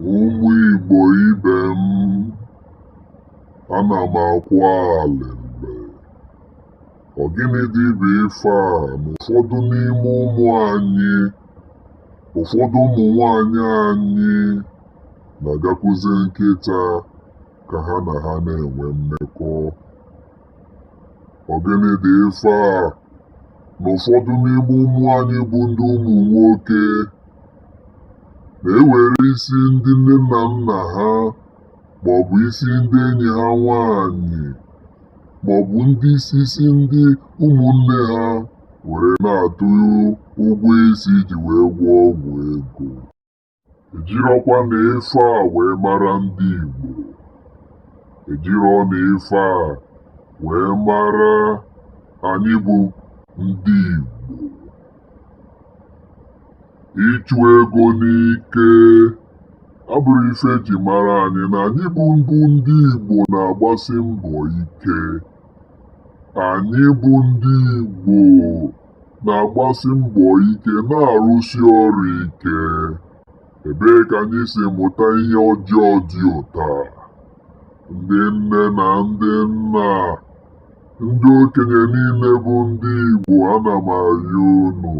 Ụmụ Igbo ibe m, ana m akwa alịlị. Ọ gịnị dị bụ ife a na ụfọdụ n'ime ụmụ anyị, ụfọdụ ụmụ nwanyị anyị na-agakwuzi nkịta ka ha na ha na-enwe mmekọ? Ọ gịnị dị ife a na ụfọdụ n'ime ụmụ anyị bụ ndị ụmụ nwoke na-ewere isi ndị nne na nna ha ma ọ bụ isi ndị enyi ha nwanyị ma ọ bụ ndị isi isi ndị ụmụnne ha were na-atụ ụgwọ isi iji wee gwọọ ọgwụ ego. ejirọkwa na ife a wee mara ndị Igbo ejirọ na ife a wee mara anyị bụ ndị Igbo ịchụ ego n'ike abụrọ ife eji mara anyị na anyị bụ mbụ ndị Igbo na-agbasi mbọ ike anyị bụ ndị Igbo na-agbasi mbọ ike na-arụsi ọrụ ike. Ebee ka anyị si mụta ihe ọjọọ dị otu a? Ndị nne na ndị nna, ndị okenye niile bụ ndị Igbo ana m arịọ unu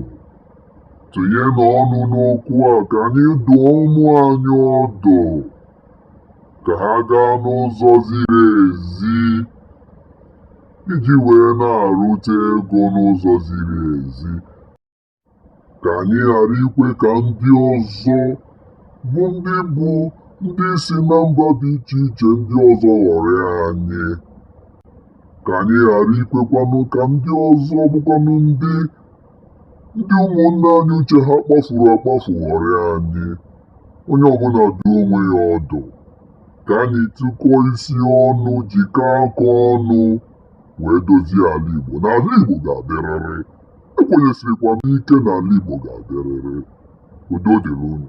tụnyenụ ọnụ n'okwu a ka anyị dụọ ụmụ anyị ọdụ ka ha gaa n'ụzọ ziri ezi iji wee na-arụta ego n'ụzọ ziri ezi ka anyị ghara ikwe ka ndị ọzọ bụ ndị bụ ndị si na mba dị iche iche ndị ọzọ ghọrịa anyị ka anyị ghara ikwekwanụ ka ndị ọzọ bụkwanụ ndị ndị ụmụnne anyị uche ha kpafuru akpafu ghọrịa anyị onye ọbụla dụọ onwe ya ọdụ ka anyị tụkọọ isi ọnụ jikọọ aka ọnụ wee dozie ala Igbo na ala Igbo ga-adịrịrị ekwenyesirikwa m ike na ala Igbo ga-adịrịrị udo dịrị unu